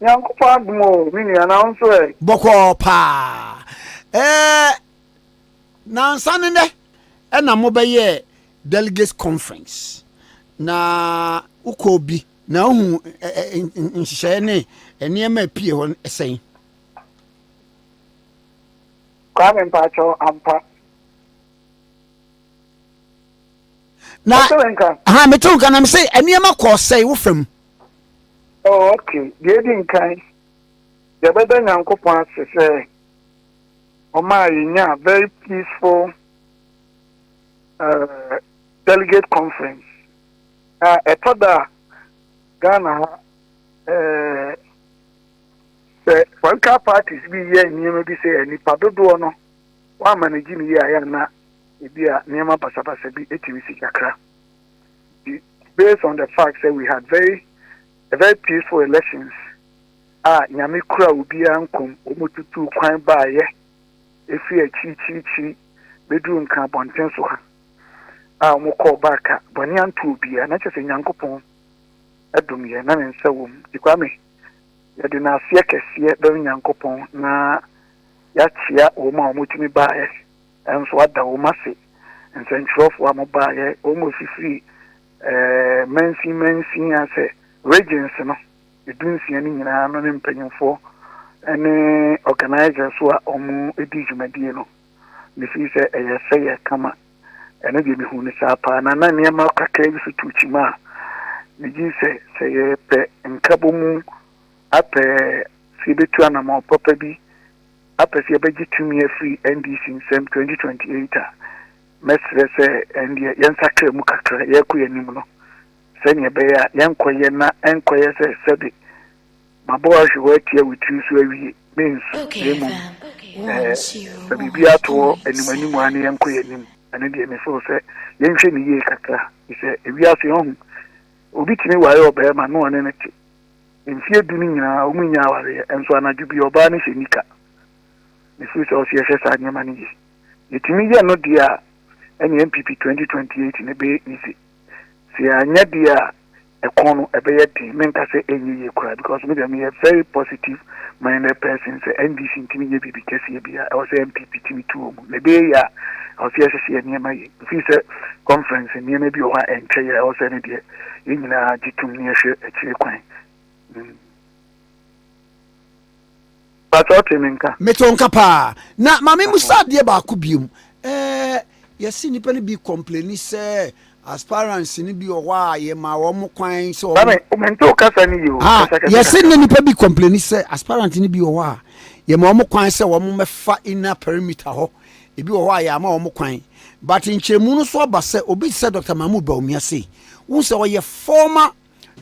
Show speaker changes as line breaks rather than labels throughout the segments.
Nyankopɔn adom o me nua na wo nso ɛ? Bɔkɔɔ
paa ɛɛ nansa ne nɛ ɛna mo bɛ yɛɛ delegates conference na wo kɔɔ bi na wo hu nhyehyɛɛ ne nneɛma ɛpie hɔ sɛn? Kwame
mpakyɛw
ampa. Na ha metew nka na mese nneɛma kɔɔ sɛn wo fam Oh,
okay. Deɛ edi nkan, yɛbɛda Nyankopɔn ase sɛ ɔmaa yɛnyaa very peaceful uh, delegate conference. Na ɛtɔ da a, Ghana ha, eh, sɛ political parties bi yɛ nneɛma bi sɛ nnipa dodoɔ no, wɔama no gye ne yie a yɛ na ebi a nneɛma basabasa bi etumi si kakra. based on the fact sɛ we had very a very peaceful elections a Nyame kura obiara nkom, wɔn tutuu kwan baayɛ ɛfiri akyirikyirikyiri bɛduru nka abɔnten so ha a wɔn kɔɔ baaka bɔne anto obiara na kyerɛ sɛ Nyankopɔn ɛdom yɛ na ne nsa wɔ mu ti Kwame yɛde no aseɛ kɛseɛ bɛm Nyankopɔn na yɛakyea wɔn a wɔtumi baayɛ Nso ada wɔn ase, nsɛnkyerɛwfo a mobaeɛ, wɔn a wɔfifirii mansin mansin ase, regions no, dunsia no nyinaa no ne mpanyimfoɔ ne organisers a wɔdii dwumadie no. Mefiri sɛ ɛyɛ sɛ yɛ kama. Ɛno deɛ mehuu no saa paa, na na nneɛma kakra bi so tuu kyima a megyee sɛ sɛ yɛpɛ nkabɔmu apɛ sɛ yɛbɛtu anammɔn papa bi apɛ sɛ yɛbɛgye tumi afiri NDC nsam 2028 a, mɛsrɛ sɛ ɛndeɛ yɛnsakra mu kakra yɛrekɔ yɛn anim no sɛdeɛ ɛbɛyɛ a yɛnkɔyɛ na ɛnkɔyɛ sɛ sɛde mabɔ wo ahwe hɔ atia wo tiri so awie, mensu, na mmom eh, fa biribi ato hɔ anim anim ara na yɛnkɔ yɛn anim. Ɛno deɛ me feel sɛ yɛnhwɛ ne yie kakra, efisɛ ewiase ɔho obi tumi ware ɔbarima na ɔne no te, Mfeɛ du no nyinaa wɔn nnya awareɛ nso anadwo bi ɔbaa no hyɛ nika. Me feel sɛ ɔsɛ yɛhwɛ saa nneɛma no yie. Yɛtumi yɛ no deɛ a ɛne NPP 2028 no ɛbɛyɛ easy. Sɛ yɛanyɛ deɛ a ɛkɔn no ɛbɛyɛ den. Menka sɛ ɛnyɛ yie koraa because me deɛ meyɛ very positive minded person sɛ NDC ntumi nyɛ biribi kɛseɛ biara. Ɛwɔ sɛ NPP tumi tu wɔn. Na ɛbɛyɛ yie a ɛwɔ sɛ yɛhyehyɛ yɛn nneɛma yie. Mefeel sɛ conference nneɛma bi wɔ hɔ a ɛnkyɛ yɛ a ɛwɔ sɛ ɛno deɛ Yɛn nyinaa gye tom na yɛhwɛ akyire kwan. Mm. Patsɔ ɔte me nka. Meto nka paa.
Na maame mu sa adeɛ baako biom. Ɛɛ yɛsi nnipa no bi kɔmpleni sɛ aspirants no bi wɔ hɔ a yɛma wɔn kwan sɛ wɔn. Maame mente wo kasa
no yio. Ah, yɛsi ne nnipa
bi kɔmpleni sɛ aspirants no bi wɔ hɔ a yɛma wɔn kwan sɛ wɔn mɛfa inner perimeter hɔ. Ebi wɔ hɔ a yɛama wɔn kwan, but nkyerɛmu no so aba sɛ obi te sɛ Dɔkta Mahmood Bawumia sei, wohu sɛ ɔyɛ former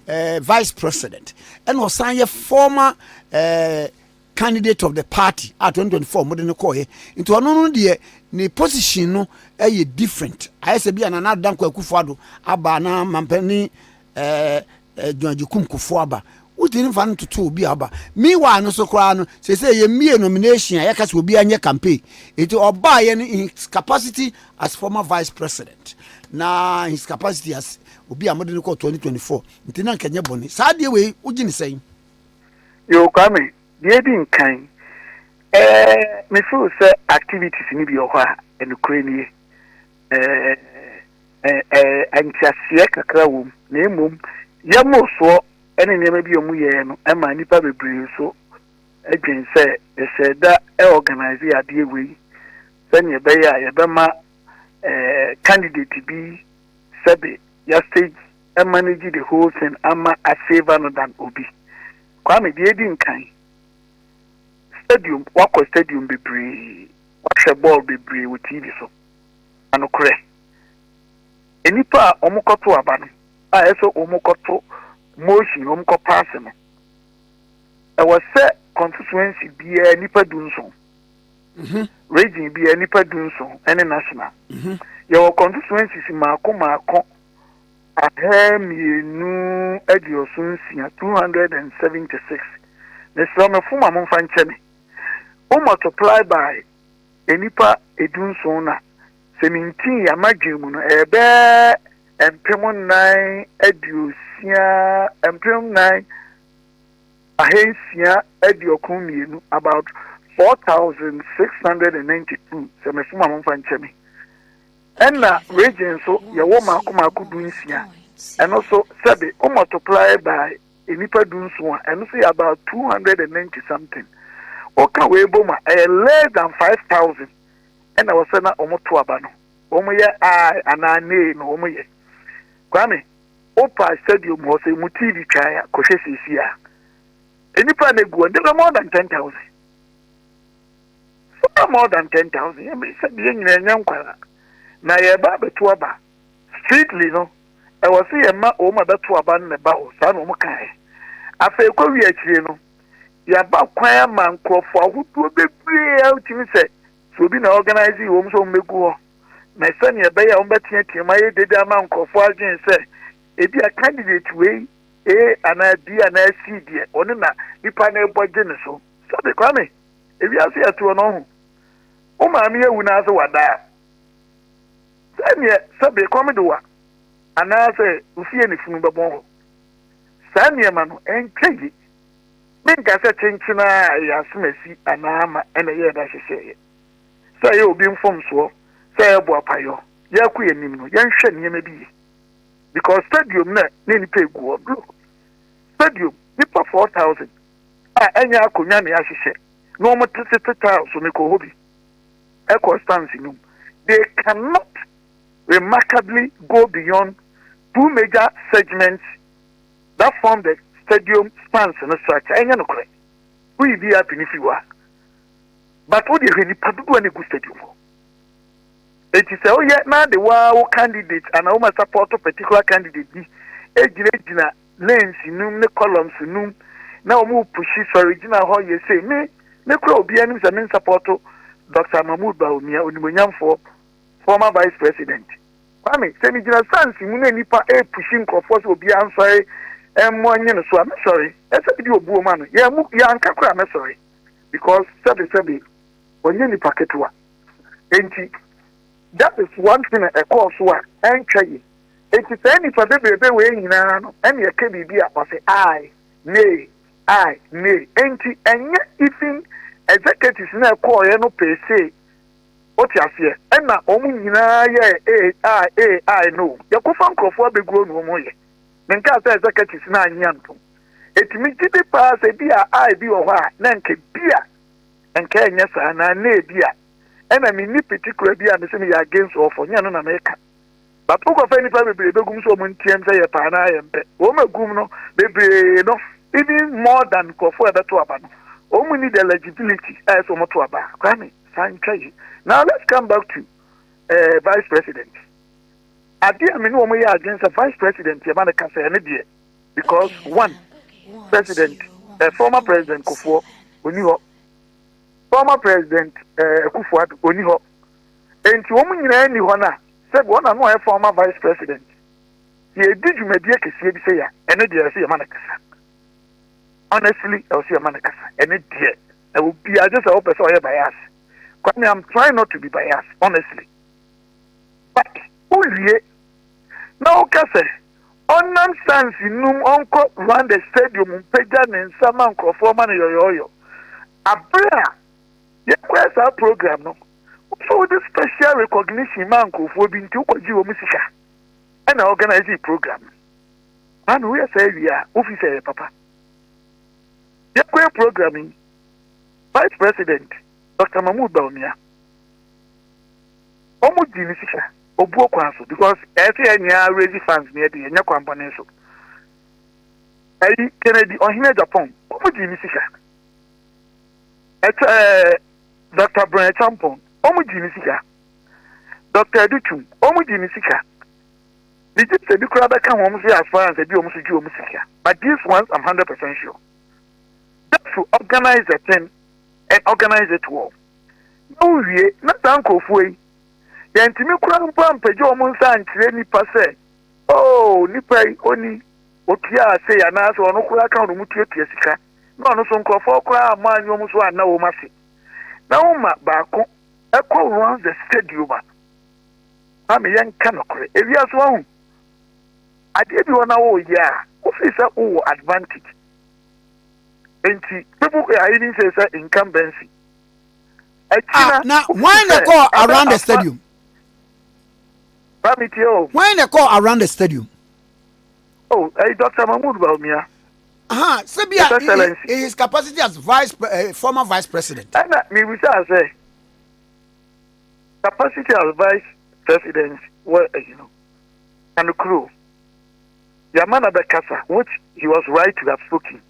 eh, vice president, ɛna ɔsan yɛ former eh, candidate of the party a 2024 mode no kɔɔyɛ. Nti ɔno no deɛ ne position no ɛyɛ different. Ayɛ sɛ bi a Nana Adda Nkwa Akufo-Addo aba anaa mampanin ɛɛ dwumadzi kumkufo aba. Wodzi no fa no toto obi a ɔba. Meanwhile no so koraa no, sesei yemiee nomination a yɛka sɛ obiara nyɛ campaign. Enti ɔbaeɛ no in his capacity as former vice president na in his capacity as obi a mode no kɔɔ 2024 nti na nka nyɛ bɔne. Saa adeɛ wei wogye ne sɛn? Yo,
Kwame, deɛ edi nkan, eh, me feel sɛ activities no bi wɔ hɔ a, nokorɛ nie, nteaseɛ kakra wɔ mu, na mmom yɛ mmorosoɔ ne nneɛma bi a wɔyɛɛ no ma nnipa bebree nso dwen sɛ yɛhyɛ da organise adeɛ wei sɛdeɛ ɛbɛyɛ a yɛbɛma candidate bi sɛbe ya stage manage the whole thing ama a favor no than obi. Kwame, deɛ ɛdi nkan, stadium, wakɔ stadium bebree, wahwɛ bɔɔl bebree wɔ TV so. na nokorɛ nnipa a wɔkɔto aba no a ɛsɛ wɔkɔto motion na wɔkɔ paase no ɛwɔ sɛ constituency biara nnipa du nson mhm. region biara nnipa du nson ɛne national mhm. yɛwɔ constituency si maako maako ahɛ mmienu aduoso nsia two hundred and seventy six na sɛ ɔmɛfo ma mo nfa nkyɛn ne wɔn multiply by nnipa dunson na sɛ mintii yɛn adwene mu no, ɛyɛ bɛɛ mpem nnan aduosia, mpem nnan ahansia aduokron mmienu, about 4,692, sɛ mefom a momfa nkyɛ me. Ɛna region so yɛwɔ mako mako du nsia, ɛno so sɛbe, o multiply by nnipa dunson a, ɛno nso yɛ about two hundred and ninety something. Woka wei bom a, ɛyɛ less than five thousand ɛna wɔsɛ na wɔn to aba no. Wɔn yɛ ae anaa nee na wɔn yɛ. Kwame, wopa stadium hɔ sɛ mu TV twan a, kɔhwɛ siesie a. Nnipa na egu wɔn, they were more than ten thousand. They were more than ten thousand. Yɛn sɛ yɛn nyinaa yɛn nkwara na yɛba abɛto aba. Speedily no, ɛwɔ sɛ yɛma wɔn a bɛto aba no na ɛba hɔ, saa na wɔn kaeɛ. Afei ɛkɔwie akyire no, yɛaba kwan ama nkorɔfoɔ ahodoɔ bebree a wotumi sɛ sɛ obi na organise wɔn sɛ wɔn bɛgu hɔ, na sɛdeɛ ɛbɛyɛ a wɔn bɛteateam ayɛ dede ama nkorɔfoɔ adwene sɛ ebi a candidate wei A anaa B anaa C deɛ ɔno na nipa no rebɔ gye ne so. Sɛbi Kwame, ewiase ɛtoɔ no ɔho, wo maame awu na ase wada a, Sɛdeɛ sɛ berekɔm de wa anaasɛ wo fie ne funu bɛbɔn hɔ. Saa nneɛma no, ɛnkyɛ ye. Menka sɛ kyenkyen ara a ɛyɛ asomasi anaa ama na ɛyɛ ɛda hyehyeeɛ. Sɛ ɛyɛ obi mfomsoɔ, sɛ ɛyɛ boapayɔ, yɛrekɔ yɛn anim no, yɛnhwɛ nneɛma bi ye. Because stadium no a na nnipa regu hɔ no, stadium, nnipa 4,000 a ɛnyɛ akonnwa na yɛahyehyɛ na wɔtete tiles so, mekɔɔ hɔ bi. circumstance no mu, they cannot remarkably go beyond two major segments that form the stadium stands no structure. Ɛnyɛ nokorɛ. Woyi VIP no firi hɔ a, but wode hwɛ nipa dodoɔ a na ɛgu stadium hɔ. Eti sɛ woyɛ na de waa wo candidate anaa woma support particular candidate bi gyinagyina lens num ne columns num na wɔn repushi sɔre gyina hɔ yɛ sei me me kura obiara anim sɛ me nsapɔto Doctor Mahmoud Bawumia onimuonyamfoɔ former vice president Kwame sɛ me gyina sans mu na nipa repushi nkurɔfoɔ sɛ obiara nsɔre mmɔ nye no so a mɛsɔre ɛsɛ bi di obuo ma no yɛn mu yɛn anka kura mɛsɔre because sɛbi sɛbi wɔnyɛ nipa ketewa enti that is one thing a ɛkɔɔ so a ɛntwa yi. Enti saa nnipa bebrebe wei nyinaa no na yɛka biribi a wɔse aye, nay, aye, nay. Enti ɛnyɛ even executives no a ɛkɔɔeɛ no per se, wote aseɛ, ɛna wɔn nyinaa yɛɛ aye, aye, aye, aye no o. Yɛkɔfa nkurɔfoɔ abɛguo na wɔn yɛ. Menkaa sɛ executives no annye antom. Enti megye di paa sɛ bi a aye bi wɔ hɔ a na nka bi a nka ɛnyɛ saa anaa nay bi a ɛna menni particular bi a mese meyɛ against or for, nyɛ ɛno na meka. But wo kɔfa nipa bebree bɛgum so wɔn nteam sɛ yɛpɛ anaa yɛmpɛ. Wɔn agum no bebree no even more than nkurɔfoɔ a ɛbɛto aba no wɔn nni the legibility a ɛsɛ wɔn to aba. Kwame fa ntwa yi. Now let's come back to uh, vice president. Adeɛ a me ne wɔn yɛ adwene sɛ vice president yɛma no kasa ɛne deɛ because one president uh, former president Kofoɔ oni hɔ former president uh, Akufo-Addo oni hɔ Enti wɔn nyinaa nni hɔ no a, sɛbi wɔn na no ɔyɛ former vice president. Yɛ redi dwumadie kɛseɛ bi sɛi a, ɛno deɛ ɛwɔ sɛ yɛ ma no kasa. Honestly, ɛwɔ sɛ yɛ ma no kasa. Ɛno deɛ, na obiara gye sɛ wo pɛ sɛ ɔyɛ bias. Kwame, I'm trying not to be bias, honestly. But, wo wie, na wo ka sɛ, ɔnam sans num ɔnkɔ Rwanda stadium mpagya ne nsa ma nkorɔfoɔ ma no yɔyɔɔyɔ. Abere a. Yɛkɔɛ saa program no, wosɛ wode special recognition maa nkurɔfoɔ bi nti wokɔgye wɔn sika ɛna organise program no. Maame woyɛ saa wie a wofi sɛ ɛyɛ papa. Yɛkɔɛ program yi, Vice President Dr. Mahmoud Bawumia, wɔn gye ne sika obuo kwan so because ɛsɛ yɛ nyinaa raise funds ne ɛde yɛnyɛ kwan bɔne so. Ɛyi Kennedy ɔhene Japan wɔn gye ne sika. ɛkyɛ ɛɛ dɔkta brɔn ɛkyampɔn wɔn gye ne sika dɔkta ɛdutum wɔn gye ne sika ne gye sɛ bi koraa bɛka wɔn so yɛ asfaransa bi wɔn so gye wɔn sika but this once i'm hundred percent sure just to organize the thing and organize it well na wowie na saa nkurɔfoɔ yi yɛntumi koraa mpo ampagya wɔn nsa ankyerɛ nipa sɛ oh nipa yi oni otua ase anaasɛ ɔno koraa ka wɔn mu tuatua sika. na ɔno so nkorɔfoɔ koraa ammɔ anwom nso anna wɔn ase. Na woma baako kɔ runs the stadium a, maame yɛnka nokorɛ, ewiase wahu adeɛ bi hɔ na woyɛ a, wofii sɛ wowɔ advantage. Enti people are even say sɛ incumbency. Akyi na
na wɔn na kɔ around the stadium. Maame tie o. Wɔn na kɔ around the stadium. Oh,
ɛyi Dr. Mahmoud Bawumia.
aha sɛ bi a in his capacity as vice uh, former vice president.
ɛna mibisa sɛ capacity as vice president wɔ ɛyi no anokuro yamma na bɛkasa which he was right to have spoken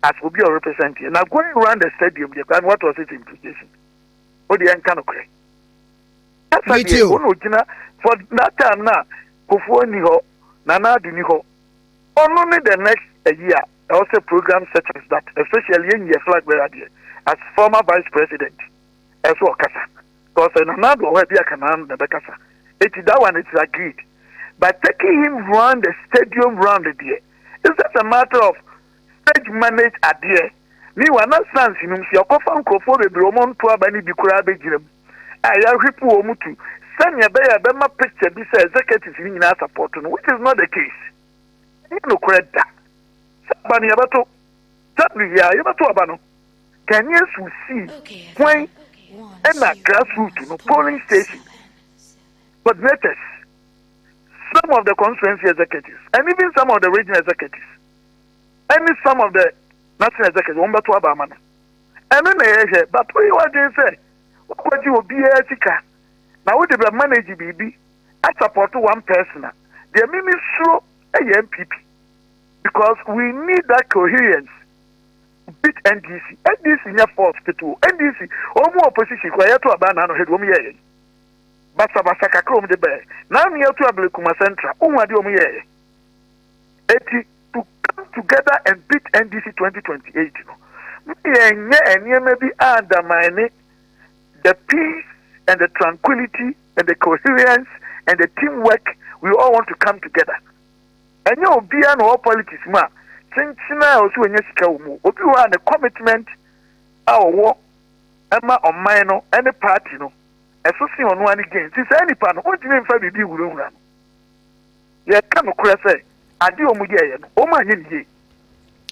as obi a represent yɛ na going round the stadium deɛ kwan what was it implication o deɛ nka nokorɛ kasa deɛ o na
ogyina for
that time na kofoɔ ni hɔ nana ado ni hɔ. Ɔno ne the next ayi a ɛwɔ sɛ program settings that especially yɛn yɛ flag bearer deɛ as former vice president ɛsɛ ɔkasa because sɛ Nana Addo wɔ hɔ ɛbi aka Nana na ɛbɛkasa eti that one it's agreed but taking him round the stadium round deɛ it's just a matter of stage manage adeɛ ne wa na sans nom sɛ ɔkɔfa nkorɔfoɔ bebree wɔn nto aba no bi koraa bɛgyina mu a yɛahwepo wɔn tu sɛnea ɛbɛyɛ a ɛbɛma picture bi sɛ executives no nyinaa support no which is not the case ɛnyɛ nokorɛ da sɛ aba no yɛbɛto w yeah yɛbɛto aba no Ghanaians will see when ɛna grassroots no polling station coordinators some of the constituency executives and even some of the regional executives ɛne some of the national executives wɔn bɛto aba ama no ɛno na ɛyɛ hwɛ but woyɛ w'adwene sɛ wokɔgye obiara sika na wode bɛ manage biribi asapɔto one person a deɛ mimi suro ɛyɛ npp because we need that coherence beat ndc ndc nyɛ force ketewa ndc wɔn mu opposition kura yɛto aba na ano hɛde wɔn yɛ yɛn basabasa kakra wɔn de bɛɛ na ano yɛto abele kuma central ohun adeɛ wɔn yɛ yɛn. Enti to come together and beat NDC 2028 no, ma yɛnyɛ nneɛma bi a undermine the peace and the tranquility and the coherence and the teamwork we all want to come together. Ɛnyɛ obiara na ɔwɔ politics mu a kyenkyen a ɔsɛ ɔnya sika wɔ mu. Obi wɔ a ne commitment a ɔwɔ ɛma ɔman no ɛne party no ɛso se ɔno ane gain. Nti saa nipa no ɔntumi mfa biribi nhunahuna no. Yɛka nokorɛ sɛ, adeɛ a wɔyɛeɛ no, wɔanyɛ no yie.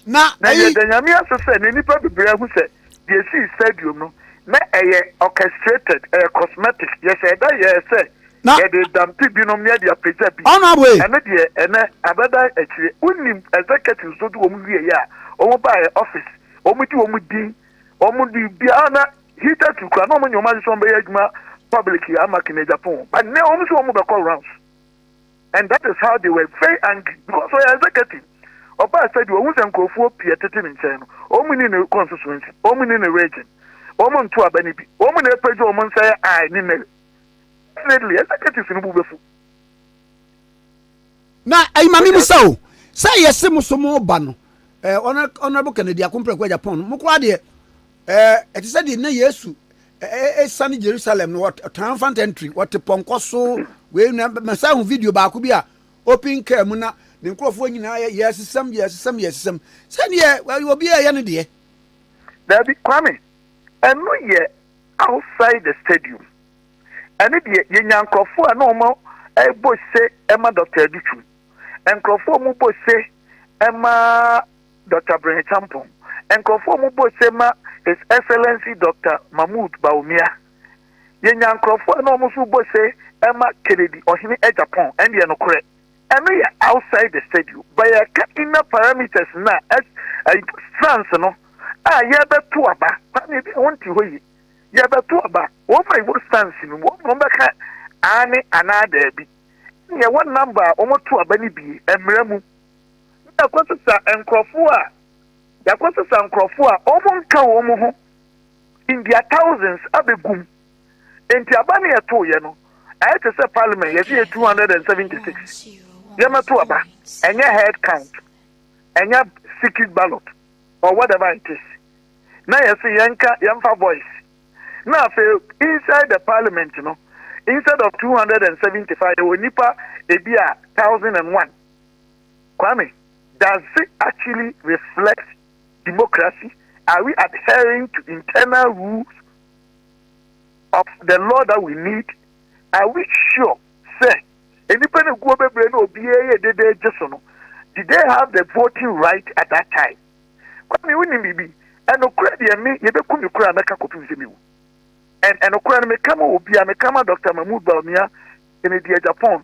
Na yɛda Nyame ase sɛ, na nnipa bebree ahu sɛ, deɛ ɛsii stadium no, na ɛyɛ orchestrated, ɛyɛ cosmetic, yɛhyɛɛ da yɛɛ sɛ yɛde dampi binom yɛde apagya bi, ɛno deɛ
ɛnnɛ abɛda
akyire. Wonim executives no de wɔn wieeɛ a, wɔn baeɛ office, wɔn gye wɔn din, wɔn de biara na hitherto koraa na wɔn nyɛ wɔn ade sɛ wɔn bɛyɛ adwuma public ama Kennedy Aponwo, but nnɛ wɔn nso wɔn bɛkɔ rounds. and that is how they were very angry because ɔyɛ executive ɔbaa sɛ deɛ ɔhu sɛ nkurɔfoɔ pii ɛtete ne nkyɛn no wɔn ni ne constituency wɔn ni ne region wɔn nto aba no bi wɔn na ɛpɛgye wɔn nsa yɛ i ne mary definitely executives no bu bɛfu
na ɛyi ma mimi sɛ o sɛ yɛse mo so mo ba no eh, honorable kennedy akomprɛko agya pɔn no mo koraa deɛ Ɛte sɛ deɛ na Yesu ɛsiane Jerusalem no ɔtena mfanta ntiri ɔte pɔnkɔ so wei na mɛsa ho video baako bi a open car mu na ne nkurɔfoɔ nyinaa yɛ yɛsesɛm yɛsesɛm yɛsesɛm sɛdeɛ obi a ɛyɛ no deɛ. Daabi
Kwame ɛno yɛ outside the stadium ɛne deɛ yɛnya nkurɔfoɔ a na wɔn ɛbɔ se ɛma Dr. Adutwum nkurɔfoɔ a wɔbɔ se ɛma Doctor Brehitampong. Nkurɔfoɔ a wɔbɔ ose ma His Excellency Doctor Mahmoud Bawumia. Yɛnya nkurɔfoɔ a na wɔn nso rebɔ ose ma Kennedy, Ɔhene Agyapong. Ɛndeɛ nokorɛ, ɛno yɛ outside the stadium. But yɛreka inner parameters no a, France no a yɛrebɛto aba, Kwame ebia wonte hɔ yie, yɛrebɛto aba, wɔn a wɔwɔ France no mu, wɔn na wɔbɛka aane anaa daabi. Ɛndeɛ wɔn number a wɔto aba no bi, ɛmmra mu. na yɛakɔsesa nkurɔfo a, yɛakɔsesa nkurɔfo a wɔn nka wɔn ho in their thousands abɛgu mu. Enti aba no yɛtoeɛ no, ɛyɛ te sɛ parliament yɛsɛ yɛ 276 yɛmɛto aba, ɛnyɛ head count, ɛnyɛ secret ballot or whatever it is. Na yɛsɛ yɛnka yɛmfa voice. Na afei inside the parliament no, instead of 275 yɛwɔ nipa ebi a 1001. Kwame, does it actually reflect democracy? Are we adhering to internal rules of the law that we need? Are we sure sɛ nnipa no guo bebree na obiara yɛ dede gye so no? Did they have the voting right at that time? Kwame, wonim biribi? Ɛnokorɛ deɛ me yɛbɛku me koraa mɛka kɔpem sɛ mewu. And ɛnokorɛ no meka ma obiara, meka ma Dr. Mahmoud Bawumia, Kennedy Agyapong,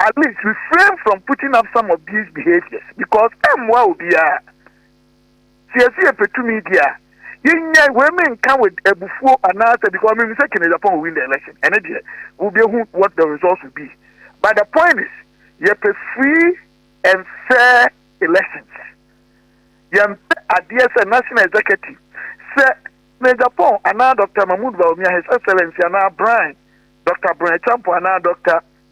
At least refrain from putting up some of these behaviors because ɛmmoa obiara. Sɛ yɛse yɛpɛ tumi deɛ a, yɛnnyae wei menka with abufuo anaasɛ because menim sɛ Kenneth Ampong will win the election. Ɛno deɛ wobɛhu what the results will be. But the point is yɛpɛ free and fair elections. Yɛmpɛ adeɛ sɛ National Executive sɛ Kenneth Ampong anaa Doctor Mahmoud Bawumia, His Excellency anaa Bryan, Doctor Bryan Acheampong anaa Doctor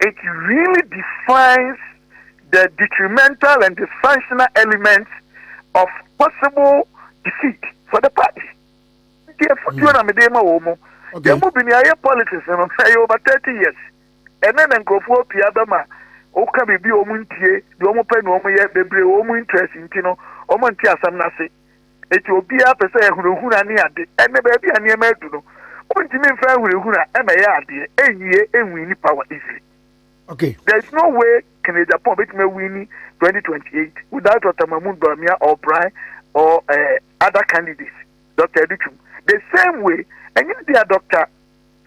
it really defines the detrimental and dysfunctional elements of possible defeat for the party. Nti efutuo hmm. na mede ma wɔn mu. Yɛn mu bi ni ayɛ politics no ɛyɛ over thirty years. Ɛnɛ na nkurɔfoɔ pii abɛma woka biribi a wɔn ntie deɛ wɔn pɛ na wɔn yɛ bebree wɔn interest nti no wɔn nti asɛm n'ase. Enti obiara pɛ sɛ ahunahuna ne ade, ɛnna baabi a nneɛma adu no, wontumi mfa ahunahuna mmɛyɛ adeɛ. Enwie, enwini power easily. Okay. There is
no way
Kennedy Agyapong betumi awini 2028 without Otamamu Bawumia or Brian or uh, other candidates, Dr. Aduchum. The same way, ɛnyɛ deɛ Dr.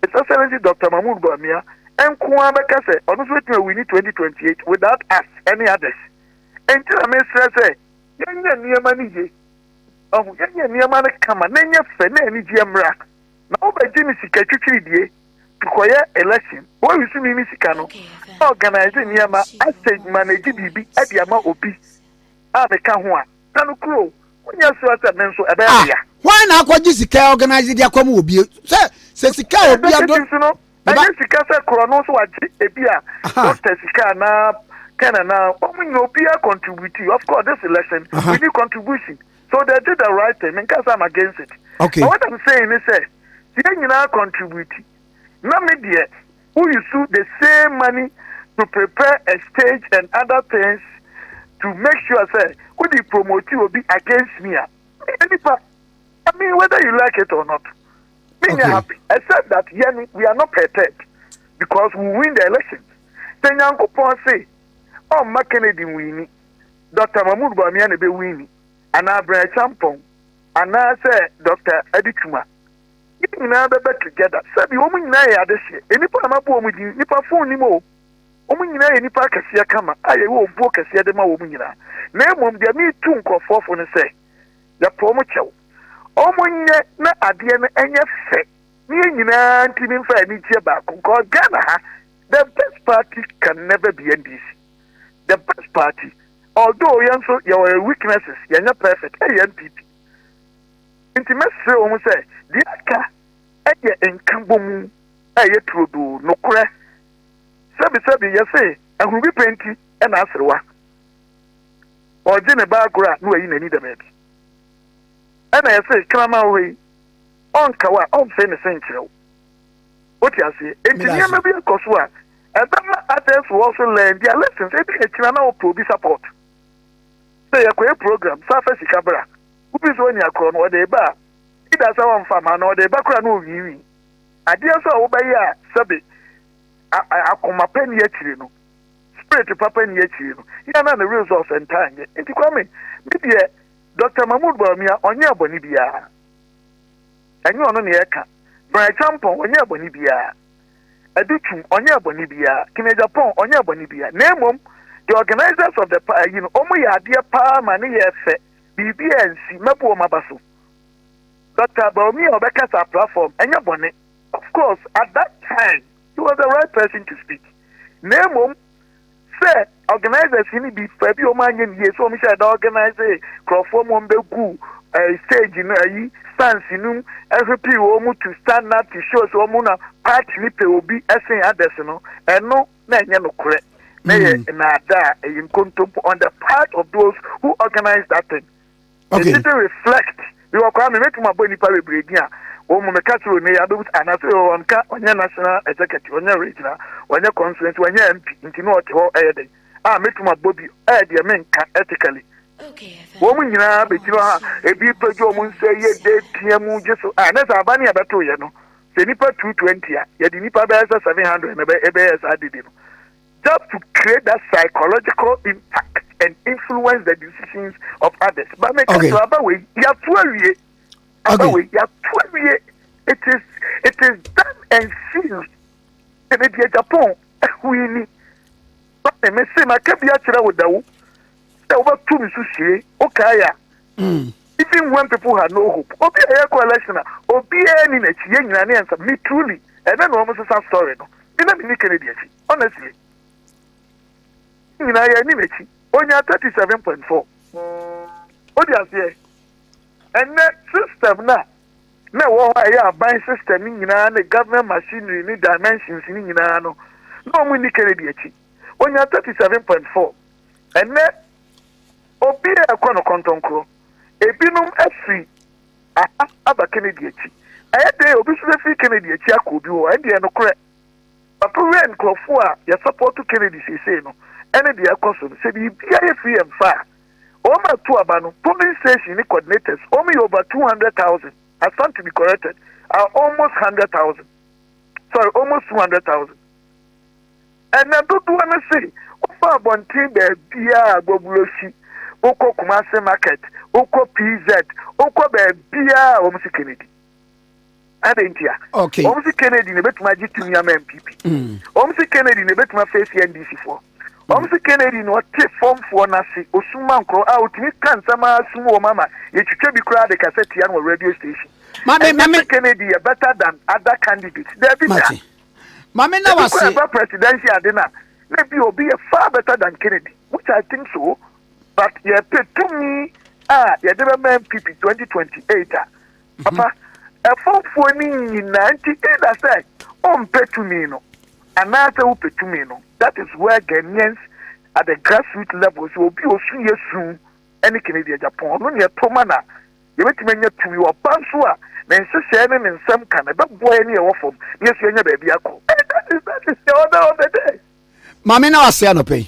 His Excellency Dr. Mahmoud Bawumia nko ara bɛka sɛ ɔno nso betumi awini 2028 without us any others. Nti na mesrɛ sɛ yɛnyɛ nneɛma no ye. Wahu? Yɛnyɛ nneɛma no kama na ɛnyɛ fɛ na anigyeɛ mmra. Na wobɛgye ne sika twitwiridie de kɔyɛ election. Bowie so mimi sika no na organise nneɛma asɛ adwuma na ɛgye biribi de ama obi a meka ho a, na no kuro o, wonyɛ soa sɛ me nso ɛbɛyɛ me ya. Ah, hwan na akɔgye sika
organise de akɔma obi? Sɛ, sɛ sika a obi adɔ. Ɛsɛ sɛ nso no, Ɛnyɛ sika sɛ
korɔno nso wagye ebi a doctor sika anaa pen anaa wɔn nyɛ obiara contribute of course this election uh -huh. we need contribution so they did the right thing nka sɛ I'm against it okay. but what I'm saying
is
sɛ yɛn nyinaa contribute na me deɛ who use the same money to prepare a stage and other things to make sure say who the promote will be against me. I mean, whether you like it or not. Me okay. happy except that yɛn we are not prepared because we win the election. Sɛ Nyankopɔn se ɔmma Kennedy nwini, Dr. Mahmoud Bawumia na ebe wini, anaa Brian Acheampong, anaa sɛ Dr. Adi Twuma. Yɛn nyinaa bɛbɛ together. Sɛbi wɔn nyinaa yɛ adehyeɛ. Nnipa a mabu wɔn din, nnipa fon nim o. Wɔn nyinaa yɛ nnipa akɛseɛ kama a yɛyɛ obuo kɛseɛ de ma wɔn nyinaa. Na mmom deɛ metu nkurɔfoɔ fo no sɛ. Yɛto wɔn kyɛw. Wɔnyɛ na adeɛ no ɛnyɛ fɛ na yɛn nyinaa ntumi mfa anigyeɛ baako nkɔ Ghana ha. The best party can never be NDC. The best party although yɛn nso yɛwɔ yɛn weaknesses yɛnyɛ perfect ɛyɛ NPP. Nti mɛsrɛ wɔn sɛ deɛ aka ɛyɛ nkabɔmu ɛyɛ turodoo nokorɛ. Sɛbisɛbi yɛse ahuru bi pɛ nti ɛna aserewa. ɔregye ne ba agorɔ a na wayi n'ani da baabi. Ɛna yɛse kraman wo hɔ yi ɔnka wo a ɔmfee ne se nkyerɛ wo. Wote aseɛ? Enti nneɛma bi kɔ so a ɛbɛma others will also learn their lessons. Ebi akyina na wopɛ obi support. Sɛ yɛkɔyɛ program, saa fa sika bra. Wobi nso ɔnya korɔ no ɔde ba a, either sɛ ɔmfa ma no ɔde ba koraa na ɔwiinwii. Adeɛ nso a wobɛyɛ a sɛbe akoma pa ni akyire no, Spirit papa nni akyiri no, yɛ a na ne results ntaa nyɛ. Nti Kwame, me deɛ Doctor Mahmood Bawumia ɔnyɛɛ bɔne biara. Ɛnyɛ ɔno na yɛreka. Brian Acheampong ɔnyɛɛ bɔne biara. Adu Twum ɔnyɛɛ bɔne biara. Kenny Agyapong ɔnyɛɛ bɔne biara. Na mmom, the organisers of the pa ayi no, wɔn yɛ adeɛ paa ma ne yɛɛ fɛ. Biribiara ansi. Mɛbu wɔn aba so. Doctor Bawumia a ɔbɛkasa platform, ɛnyɛ bɔne. Of course, at that time, he was the right person to speak na mmom sɛ organisers no bi fa bi wɔn anyɛ ne yie so wɔn hyɛ da organise nkurɔfoɔ mu wɔn bɛ gu ɛɛ stage no ayi stands no mu ɛhwɛ pii wɔn mu to stand up to show so wɔn na party ne pɛ obi ɛsen adɛs no ɛno na ɛnyɛ no korɛ na yɛ nnaada a ɛyɛ nkontompo on the part of those who organise that thing. Okay. It didn't reflect. Because kwa me metu mabo nipa bebre din a wo mo meka kyerɛ ne ya bebu ana so yo on ka onye national executive onye regional onye constituency onye MP nti no ɔte hɔ ɛyɛ den a metu mabo bi eh deɛ menka ethically wo mo nyinaa be gyina ha ebi pɛgye ɔmo nsa yɛ de tia mu gye so a ne sɛ aba ne yɛbɛto yɛ no sɛ nipa 220 a yɛde nipa bɛyɛ sɛ 700 na ɛbɛyɛ saa dede no serve to create that psychological impact and influence the decisions of others. But me okay. kasa aba wei yatu awie. Aba okay. wei yatu awie. It is it is done and sealed. Ebe di Japan ehui ni. But me se ma kebi akyerɛ wo dawo. Sɛ wobɛtu ne so sie, wokae a, Mm. Even when people had no hope, obi a yɛkɔ election a obiara ni n'akyi, yɛn nyinaa ne yɛn nsa. Me truly, ɛnɛ na wɔn sesa story no. Me na me ni Kennedy akyi, honestly. Nyinaa yɛn ni n'akyi. Onya thirty seven point four. O di aseɛ. Ɛnɛ system na na ɛwɔ hɔ a ɛyɛ aban system ni nyinaa ne government machinery ni dimensions ni nyinaa no na wɔn ni Kennedy akyi. Onya thirty seven point four. Ɛnɛ Obi a ɛkɔ no kɔntɔnkrɔ. Ebinom firi aha aba Kennedy akyi. Ɛyɛ dɛn a obi nso bɛfiri Kennedy akyi akɔ obi hɔ? Ɛndeɛ, nokorɛ, Papa Wei, nkorɔfoɔ a yɛsapɔɔto Kennedy seesei no, ɛne deɛ ɛrekɔ so no, sɛ biribiara yɛ firi yɛn faa wɔn a tu aba no, polling station ne coordinators, wɔn yɛ over 200,000, I stand to be corrected, are almost 100,000, sorry, almost 200,000. Ɛna dodoɔ no se wokɔ abɔnten baabiara a Gbogblosi, wokɔ Kumasi market, wokɔ PZ, wokɔ baabiara a wɔn se Kennedy. Adɛn ntia? Okay. Wɔn se
Kennedy na ebetumi
agye tumi ama NPP. Mm. Wɔn se Kennedy na ebetumi afeesi NDC foɔ. Wɔn mm. se Kennedy na ɔte fɔmfoɔ n'ase osuma nkorɔ a otumi ka nsɛm a asum wɔn ama yɛtwitwa bi koraa de kasa tia no wɔ radio station. Maame maame Kennedy yɛ better than other candidates. Dɛbi da. Mame na
wase. Ebi kura ba presidential ade na
na ebi obi yɛ far better than Kennedy which I think so but yɛ pɛ tumi a yɛde bɛ ma NPP 2028 a papa ɛfɔfoɔ ni nyinaa nti either sɛ ɔmpɛ tumi no anaasɛ wopɛ tumi no that is where Ghanaians at the grassroots level sɛ obi osu yɛ su ɛne Kennedy Agyapong ɔno ni ɛtoma na Yɛbɛtumi anya tumi wɔ ɔba nso a ne nhyehyɛeɛ ne ne nsɛm ka no, ɛbɛboa yɛn ne yɛn wɔ fam na yɛasi yɛanya baabi
akɔ.
That is that is
the
order of the day. Maame na wase anɔpa yi.